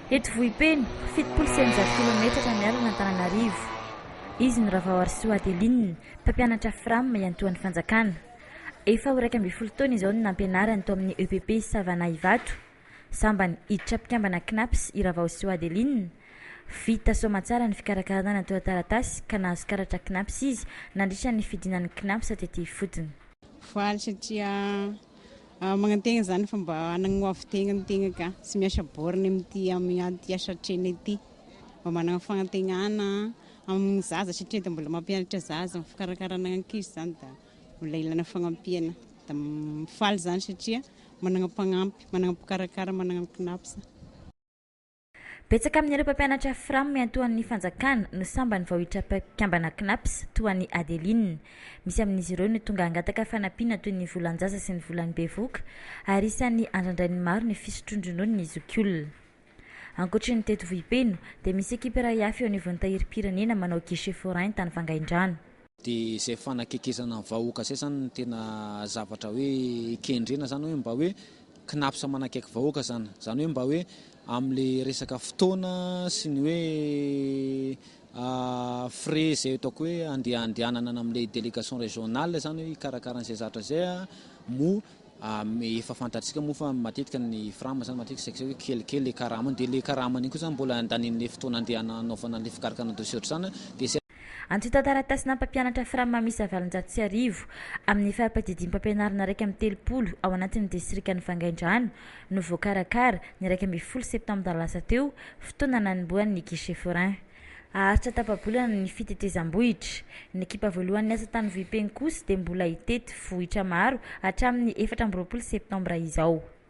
Eto Vohipeno, fitopolo sy eninjato kilaometatra miala an'Antananarivo. Izy no Ravaoarisoa Adeline, mpampianatra Fram iantohan'ny fanjakana. Efa ho iraika ambin'ny folo taona izao no nampianariny tao amin'ny EPP Savana Ivato. Sambany hiditra mpikambana Cnaps i Ravaosoa Adeline. Vita soamantsara ny fikarakarana ny antontan-taratasy ka nahazo karatra Cnaps izy nandritra ny fidinany Cnaps tety ifotony. Faly satria Magnantena zany fa mba hanagna ho avy tegna ny tegna ka, tsy miasa borne amin'ity amin'ity asa atrena ity, mba managna fagnantenana amin'ny zaza satria dia mbola mampianatra zaza amin'ny fikarakarana ankizy zany dia mbola ilana fagnampiana, dia mifaly zany satria managna mpagnampy, managna mpikarakara, managna mpinapsa. Betsaka amin'ireo mpampianatra Fram miantoan'ny fanjakana no sambany vao hiditra mpikambana Cnaps, toa an'i Adeline. Misy amin'izy ireo no tonga hangataka fanampiana toy ny volan-jaza sy ny volan'ny bevoka, ary isan'ny andrandrain'ny maro ny fisotroan-dronono ny zokiolona. Ankoatry ny teto Vohipeno, dia misy ekipa iray hafa eo anivon'ny Tahirim-pirenena manao guichet forain tany Vangaindrano. Dia izay fanakekezana ny vahoaka izay izany no tena zavatra hoe kendrena izany hoe mba hoe Cnaps manakaiky vahoaka izany. Izany hoe mba hoe amin'ilay resaka fotoana sy ny hoe frais izay ataoko hoe andeha handehanana amin'ilay délégation régionale izany hoe hikarakara an'izay zatra izay moa efa fantatsika moa fa matetika ny fram izany matetika saika hoe kelikely ilay karamany dia ilay karamany iny koa izany mbola handanian'ilay fotoana andeha hanaovana ilay fikarakana dossier ohatr'izany dia izay Antontan-taratasinà mpampianatra Framma miisa valonjato sy arivo amin'ny fara-padidiam-pampianarana iraika amby telopolo ao anatin'ny distrikan'i Vangaindrano no voakarakara, ny iraika ambin'ny folo septambra lasa teo, fotoana nanombohan'ny guichet forain. Haharitra tapa-bolana ny fitetezam-bohitra. Ny ekipa voalohany niasa tany Vohipeno kosa dia mbola hitety vohitra maro hatramin'ny efatra amby roapolo septambra izao.